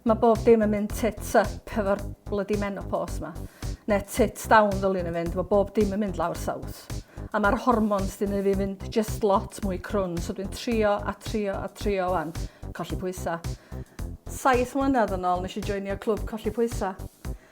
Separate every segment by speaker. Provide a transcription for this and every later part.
Speaker 1: Mae bob dim yn mynd tits up hefo'r bloody menopos ma. Ne tits down ddylun yn fynd, mae bob dim yn mynd lawr saws. A mae'r hormons dyn fi fynd just lot mwy crwn, so dwi'n trio a trio a trio wan, colli pwysa. Saith mlynedd yn ôl nes i joinio clwb colli pwysa.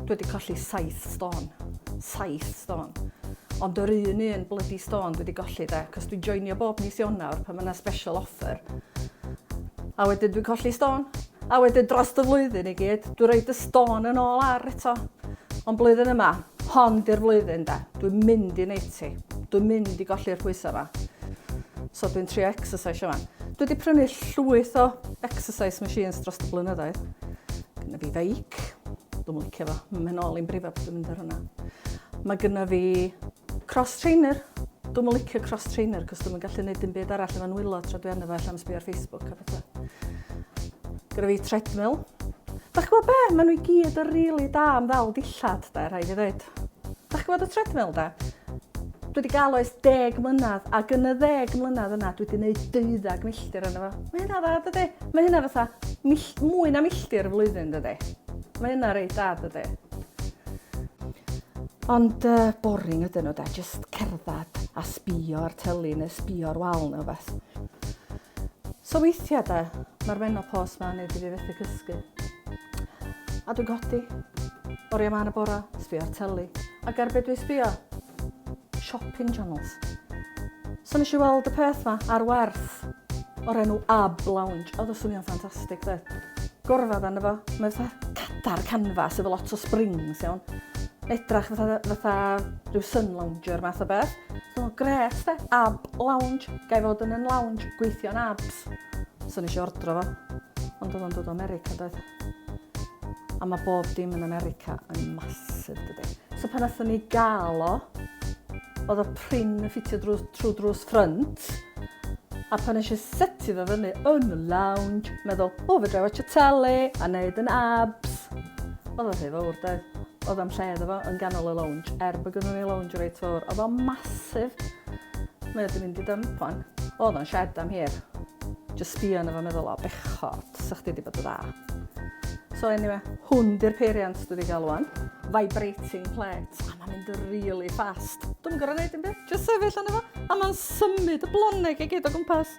Speaker 1: Dwi wedi colli saith stôn. Saith stôn. Ond yr un un bloody stôn dwi wedi golli de, cos dwi'n joinio bob mis Ionawr pan mae yna special offer. A wedyn dwi'n colli stôn. A wedyn dros y flwyddyn i gyd, dwi'n rhaid y stôn yn ôl ar eto. Ond blwyddyn yma, hon di'r flwyddyn da. Dwi'n mynd i neud ti. Dwi'n mynd i golli'r pwysau yma. So dwi'n trio exercise yma. Dwi wedi prynu llwyth o exercise machines dros y blynyddoedd. Gynna fi feic. Dwi'n licio fo. Mae'n ôl i'n brifo bod dwi'n mynd ar hwnna. Mae gynna fi Cross trainer? Dwi'm yn licio cross trainer cos dwi'm yn gallu neud dim byd arall efo nwylo tra dwi arno fo ella am sbio ar Facebook a petha. Gyda fi treadmill. Dach chi'n gwybod be? Mae nhw i gyd yn rili da am ddal dillad, da, rhaid i ddweud. Dach chi'n gwybod y treadmill, da? Dwi wedi gael oes deg mlynedd, ac yn y ddeg mlynedd yna, dwi wedi gwneud deuddag milltir yna fo. Mae hynna dda, dydy? Mae hynna fatha mwy na milltir y flwyddyn, dydy? Mae yna reit da dydi? Ond uh, boring ydyn nhw da, just cerdded a sbio ar tylu neu sbio ar wal neu beth. So weithiau da, mae'r menopos ma'n neud i fi fethu cysgu. A dwi'n codi, oriau ma'n y bora, sbio ar tylu. Ac ar beth dwi'n sbio? Shopping channels. So nes i weld y peth 'ma ar werth o'r enw Ab Lounge. Oedd o'n swnio'n ffantastig dde. Gorfod arno fo. Mae fatha cadar canfas efo lot o springs iawn. Edrach fatha fatha rhyw sun lounger math o beth. So gret de. Ab Lounge. Gai fod yn yn lounge gweithio'n abs. So nes i ordro fo. Ond oedd o'n dod o America doedd? A mae bob dim yn America yn massive, dydy. So pan nathon ni gael o, oedd y prin yn ffitio drwy, trwy drws ffrynt, a pan eisiau setu fe fyny yn y lounge, meddwl, o, fe drai watch y tele a neud yn abs. Oedd o'n rhy fawr, doedd. Oedd am lle iddo fo yn ganol y lounge, er bod gynnu ni lounge reit fawr. Oedd o'n masif. Mae wedi mynd i dymp o'n. Oedd o'n shed am hir. Just sbio yn efo meddwl, o, bechod. Tasa chdi 'di bod yn dda. So eniwe, hwn 'di'r peiriant dwi 'di ga'l ŵan. Vibrating plate. A ma'n mynd yn rili ffast. Dwi'm yn gor'o' neud dim byd. Jyst sefyll arno fo a ma'n symud y bloneg i gyd o gwmpas.